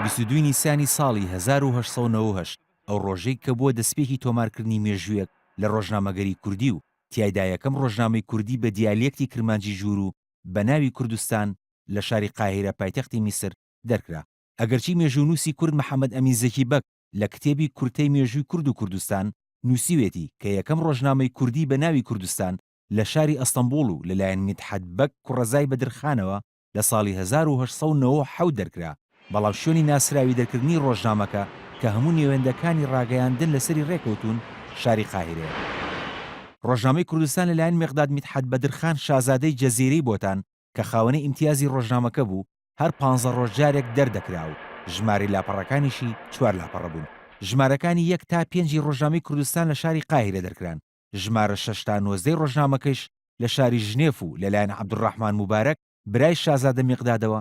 بیست و دوو نیسانی ساڵی هەزار و هەشت سەد و نەوەد و هەشت ئەو ڕۆژەی کە بووە دەسپێکی تۆمارکردنی مێژوویەک لە ڕۆژنامەگەری کوردی و تیایدا یەکەم ڕۆژنامەی کوردی بە دیالیەکتی کرمانجی ژوور و بە ناوی کوردستان لە شاری قاهیرە پایتەختی میسر دەرکرا. ئەگەرچی مێژوونووسی کورد محەمەد ئەمین زەکی بەگ لە کتێبی کورتەی مێژووی کورد و کوردستان نووسیوێتی کە یەکەم ڕۆژنامەی کوردی بە ناوی کوردستان لە شاری ئەستەنبوڵ و لەلایەن میدحەت بەگ کوڕەزای بەدرخانەوە لە ساڵی هەزار و هەشت سەد و نەوەد و حەوت دەرکرا، بەڵام شوێنی ناسراوی دەرکردنی ڕۆژنامەکە کە هەموو نێوێندەکانی ڕاگەیاندن لەسەری ڕێکەوتوون، شاری قاهیرەیە. ڕۆژنامەی کوردستان لەلایەن مێقداد میتحەت بەدرخان شازادەی جەزیرەی بۆتان کە خاوەنی ئیمتیازی ڕۆژنامەکە بوو، هەر پانزە ڕۆژ جارێک دەردەکرا و ژمارەی لاپەڕەکانیشی چوار لاپەڕە بوون. ژمارەکانی یەک تا پێنجی ڕۆژنامەی کوردستان لە شاری قاهیرە دەرکران. ژمارە شەش تا نۆزدەی ڕۆژنامەکەیش لە شاری ژنێف و لەلایەن عەبدولڕەحمان موبارەک برای شازادە میقدادەوە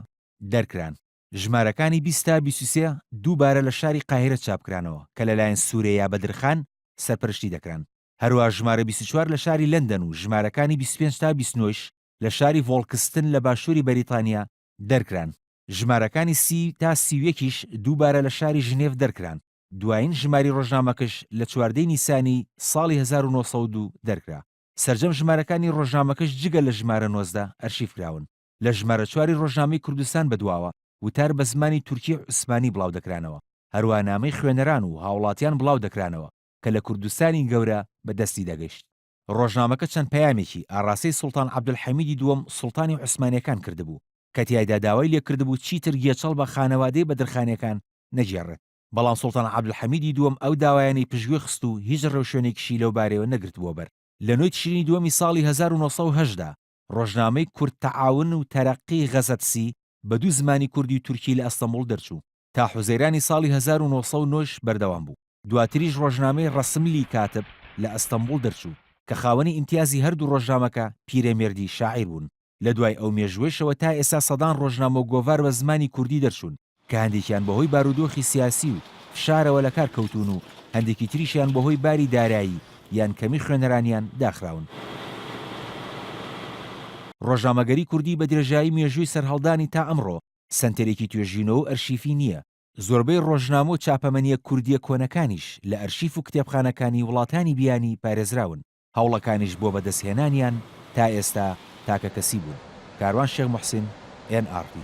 دەرکران، ژمارەکانی بیست تا بیست و سێ دووبارە لە شاری قاهیرە چاپکرانەوە کە لەلایەن سورەیا بەدرخان سەرپەرشتی دەکران، هەروا ژمارە بیست و چوار لە شاری لەندەن و ژمارەکانی بیست و پێنج تا بیست و نۆ یش لە شاری ڤۆڵکستن لە باشووری بەریتانیا دەرکران، ژمارەکانی سی تا سی و یەک یش دووبارە لە شاری ژنێف دەرکران. دوایین ژماری ڕۆژنامەکش لە چواردە ی نیسانی ساڵی هەزار و نۆ سەد و دوو دەرکرا. سەرجەم ژمارەکانی ڕۆژنامەکش جگە لە ژمارە نۆزدە ئەرشیف کراون. لە ژمارە چوار ی ڕۆژنامەی کوردستان بەدواوە وتار بە زمانی تورکیی و عوسمانی بڵاو دەکرانەوە. هەروا نامەی خوێنەران و هاوڵاتیان بڵاو دەکرانەوە کە لە کوردستانی گەورە بە دەستی دەگەشت. ڕۆژنامەکە چەند پەیامێکی ئاڕاستەی سوڵتان عەبدولحەمیدی دووەم سوڵتانی عوسمانیەکان کردبوو کە تیایدا داوای لێکردبوو چیتر گێچەڵ بە خانەوادەی بەدرخانیەکان نەگێڕێت بەڵام سوڵتان عەبدولحەمیدی دووەم ئەو داوایانەی پشتگوێ خست و هیچ ڕێوشوێنێکیشی لەو بارەیەوە نەگرتبووە بەر لە نۆی تشرینی دووەمی ساڵی هەزار و نۆ سەد و هەژدە ڕۆژنامەی کورد تەعاون و تەرەققی غەزەتسی بە دوو زمانی کوردی و تورکی لە ئەستەموڵ دەرچوو تا حوزەیرانی ساڵی هەزار و نۆ سەد و نۆ ش بەردەوام بوو. دواتریش ڕۆژنامەی ڕەسملی کاتب لە ئەستەموڵ دەرچوو کە خاوەنی ئیمتیازی هەردوو ڕۆژنامەکە پیرەمێردی شاعیر بوون. لە دوای ئەو مێژووەیشەوە تا ئێستا سەدان ڕۆژنامە و گۆڤار بە زمانی کوردی دەرچوون. کە هەندێکیان بەهۆی بارودۆخی سیاسی و فشارەوە لەکار کەوتوون و هەندێکی تریشیان بەهۆی باری دارایی یان کەمی خوێنەرانیان داخراون. ڕۆژنامەگەری کوردی بە درێژایی مێژووی سەرهەڵدانی تا ئەمڕۆ سەنتەرێکی توێژینەوە و ئەرشیفی نییە، زۆربەی ڕۆژنامە و چاپەمەنییە کوردییە کۆنەکانیش لە ئەرشیف و کتێبخانەکانی وڵاتانی بیانی پارێزراون، هەوڵەکانیش بۆ بەدەستهێنانیان تا ئێستا تاکەکەسی بوون. کاروان شێخ موحسین، ئێن ئاڕ تی.